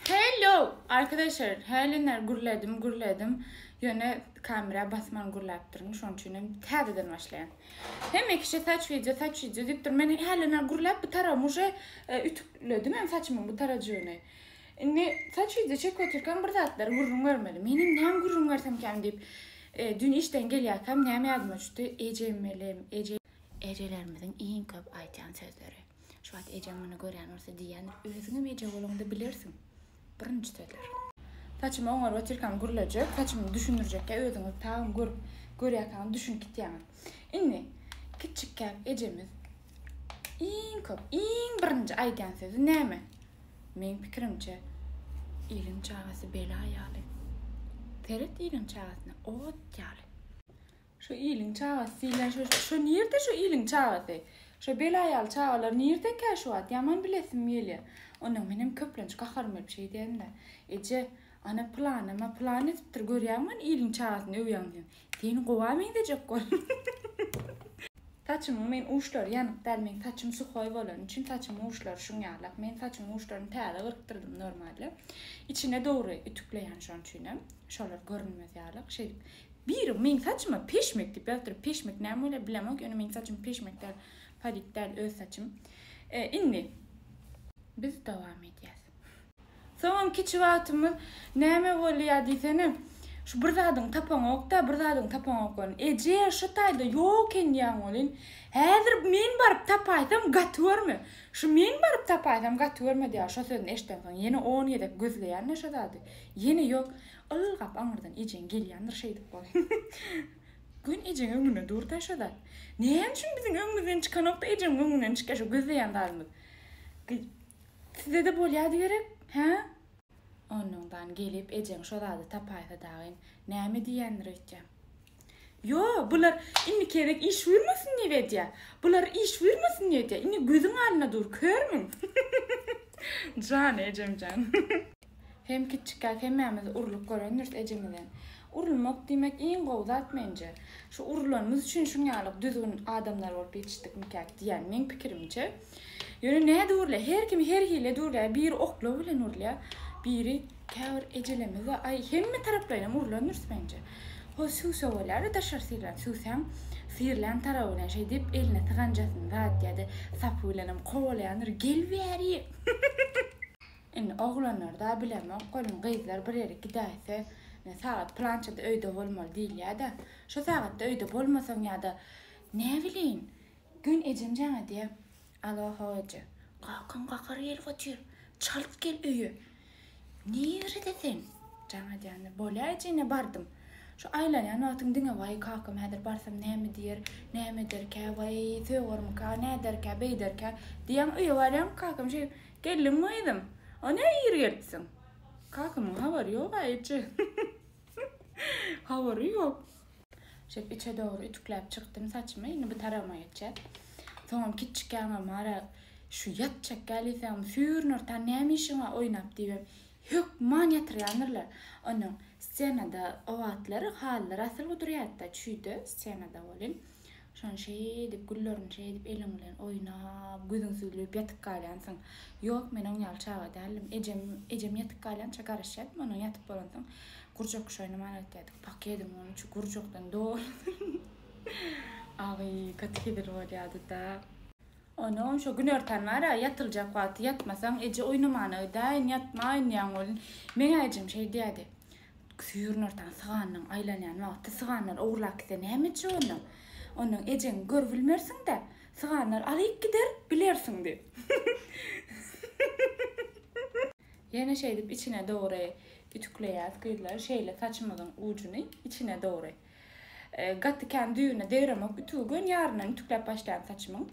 Hello! Arkadaşlar, hälinler gürledim, gürledim. Ýöne kamera basman gürläpdirin, şonuň üçin hem täzeden başlaýan. Hemme kişi saç wideo, saç wideo diýipdir. Men hälinler gürläp bu tarawymy uje e, ütükledim hem saçymyň bu tarajygyny. Indi saç wideo çekip otyrkam bir zatlar gürrüň bermeli. Menem näme gürrüň bersem käm diýip, e, dün işden gelýärkäm näme ýadyma düşdi? Ejemmelim, eje ejelerimiziň iň köp aýdýan sözleri. Şu wagt ejeň muny görýän bolsa diýýändir, Özüňem eje bolaňda bilersiň. Birinji sözler. Saçymy oňaryp otyrkam gürlejek, saçymy düşündirjekkä özüňiz tabyn görüp, görýärsiňiz, düşünip gitýäňiz. Indi kiçikkäk ejemiz iň köp, iň birinji aýdýan sözi näme? Meň pikirimçe, Iliň çagasy bela ýaly. Seret iliň çagasyna, ot ýaly. Şu iliň çagasy diýlen şu şu nirde şu iliň çagasy? Şu belaýaly çagalar nirdekä şu wagt? Ýaman bilesim gelýär. Onnoň menem köplenç gaharym gelip şeý diýendim. Eje, ana pylanyma pylan edipdir görýäňmi ony iliň çagasyny öwýäň diýen. Seni gowa meňzejek bol. Saçymyň men uçlary ýanyk däl meň saçym suhoý bolany üçin saçymyň uçlary şuň ýalak. Men saçymyň uçlaryny täze gyrkdyrdym normalde. Içine dogry ütükleýän şoň üçinem. Şolar görünmez ýalyk şeýdip. Biri meň saçyma peşmek diýip ýazdyryp, peşmek näme bolýar bilemok, ýöne meň saçym peşmek däl, padik däl, öz saçym. Indi biz dowam edýäs. Soňam kiçi wagtymyz näme bolýar diýsene, şu bir zadyňy tapaňok-da, bir zadyňy tapaňok welin, Eje, şu taýda ýok eken diýýäň welin, Häzir men baryp tapaýsam gaty görme, şu men baryp tapaýsam gaty görme diýýär. Şo sözüni eşdensoň ýene on gezek gözleýän-de şo zady. Ýene ýok. Ylgap aňyrdan ejeň gelýändir şeýdip bol. Gün ejeň öňüne dur da şoda. Näme üçin biziň öňümizden çykanokda ejeň öňünden çykýa şo gözleýän zadymyz. Gyz Sizdede bolýady gerek hä? Onnoňdan gelip ejeň şo zady tapaýsa dagyn näme diýýändir öýtýä. Ýo bular indi kerek iş buýurmasyn diýip edýä. Bular iş buýurmasyn diýip edýä. Indi gözüň alnynda dur körmüň. Jany ejemjan. Hem kiçjikkäk hemmämiz urlup görendiris ejemizden. Urulmak diýmek iň gowy zat menje. Şu urulanymyz üçin şuň ýaly düzgün adamlar bolup ýetişdikmikäk diýýän meň pikirimçe. Ýöne nädip urulýar? Her kim her hilledt urulýar. Biri oklaw bilen urulýar. Biri käbir ejelerimiz-de aý hemme taraplaýynam urulandyrs menje. Hol süwse bolýar-da daşary syrlan süwsäň syrlan tarawy bilen şeýdip eline syganjasyny zat ýa-da sapy bilenem kowalaýandyr, Gel bäri! Indi oglanlarda bilemok welin gyzlar bir ýere gidäýse indi sagat plançada öýde bolmaly diýilýäda şo sagatda öýde bolmasaň ýada näbilin gün ejem jaň edýä Alo how eje kakam gahary gelip otyr çalt gel öýe nirede sen jaň edýändir bolýa eje ine bardym şo aýlanýan wagtyň diňe waý kakam häzir barsam näme diýer näme ederkä waý sögermikä näderkä beýderkä diýýäň öýe barýaň kakam şeýdip Geldiňmi gyzym? A ne ir gelipsiň? Kakamyň habary ýog-a eje. Habary ýok. Şeýdip içe dogry ütükläp çykdym saçymy. Indi bu taragyma geçýäs. Soňam kiçjik ýaňam Mara şu ýatjak gälýsegem süýrnürtan näme işiň bar oýnap diýibem hökman ýatyrýandyrlar. Onuň ssenada o wagtlary halylar asyl gudurýardy-da, çüýde ssenada welin Şony şeýdip, güllerini şeýdip eliň bilen oýnap, gözüňi süzleyip ýatyp galýansyň. Ýok, men oň ýaly çaga däldim. Ejem, ejem ýatyp galýança garaşýardym ondan, ýatyp bolansoň gurjak küşi oýnaman aýtýardyk. Pakediň onuň üçi gurjakdan doludyr. Agy gaty-gedil bolýardy-da. Onam şo günortan bar-a, ýatyljak wagty ýatmasaň, eje oýnamana gidäýin, ýatma oýnaýaň welin. Meň-ä ejem şeý diýýärdi, Günortan syganynyň aýlanýan wagty syganlar ogurlap gitse näme etjek onda? Ondan ejeňi görüp bilmersiň-dä. Syganlar alyp gider, bilersiň diýip. Ýene şeýdip içine dogry ütükleýäs gyzlar. Şeýle saçymyzyň ujuny içine dogry. Gaty kän düýbüne degremok ütügi göni ýaryndan ütükläp başlaýan saçymyň.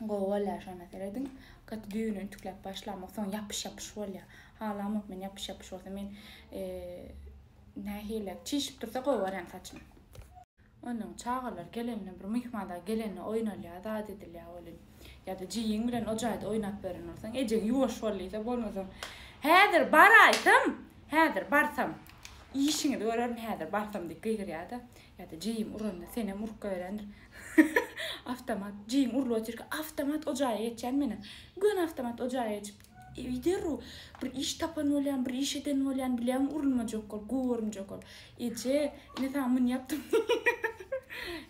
Gowy bolýar şonda serediň. Gaty düýbüni ütükläp başlamok soň ýapyş ýapyş bolýar. Halamok men ýapyş ýapyş bolsa men nähili çişip dursa gowy görýän saçym. Ondan çagalar gelende bir myhman dag gelende oýnalýar zat edilýär welin. Ýada jigiň bilen o jaýda oýnap ýören bolsaň ejeň ýuwaş bol diýse bolmasa häzir baraýsam häzir barsam işiňizi görerin häzir barsam diýip gygyrýar da Ýa-da jeýim uranda senem urup goýerendir. Awtomat jeýim urulyp otyrka awtomat o jaýa geçýän menem. Göni awtomat o jaýa geçip eý derrew bir iş tapan bolýan, bir iş eden bolýan bileň urulmajak ol, görünjek ol. Eje, ine saňa muny ýapdym.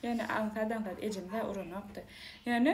Ýöne aňsat-aňsat ejem-hä uranokdy. Ýöne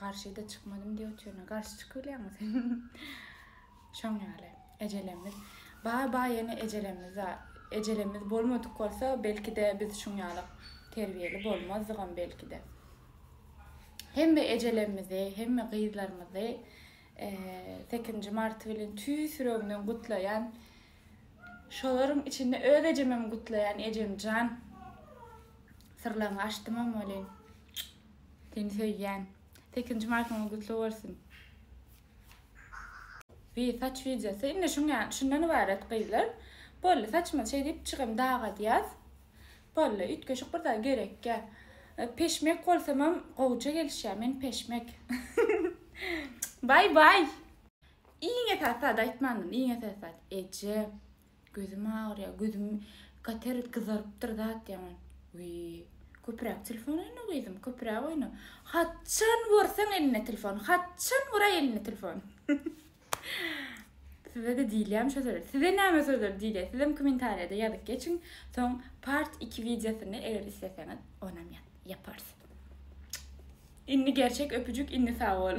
Garşyda çykmadym diýip otyryna garşy çykybilýäňmi sen? Şoň ýaly. Ejelerimiz bar bar ýene ejelerimiz bar. Ejelerimiz bolmadyk bolsa belkide biz şuň ýaly terbiýeli bolmazdygam belkide. Hemme ejelerimizi, hemme gyzlarymyzy 8-nji marty bilen tüýs ýüregimden gutlaýan. Şolaryň içinde öz ejemem gutlaýan ejemjan. Syrlaryňy açdymam welin. Seni söýýän. Sekizinji martyňyz gutly bolsun. Wee saç wideosy indi şuňa şundan ybarat gyzlar boldy saçymyzy şeý diýip çygrym dagadýas boldy üýtgeşik bir zat gerekýä peşmek bolsamam gowja gelişýä men peşmek baý baý iň esasy zady aýtmandym iň esasy zat eje Gözüm agyrýar, gözüm kater gyzarypdyr zat ýaman. Wiý, köpüräk telefon oýna gyzym, köpüräk oýna. Haçan görseň elinde telefon, haçan göräý elinde telefon. Size-de diýilýämi şo sözler? Size näme sözler diýilýär? Sizem kommentariýada ýazyp geçiň. Soň part iki wideosyny eger isleseňiz, onam ýaparys. Indi gerçek öpüjik, indi sag bol.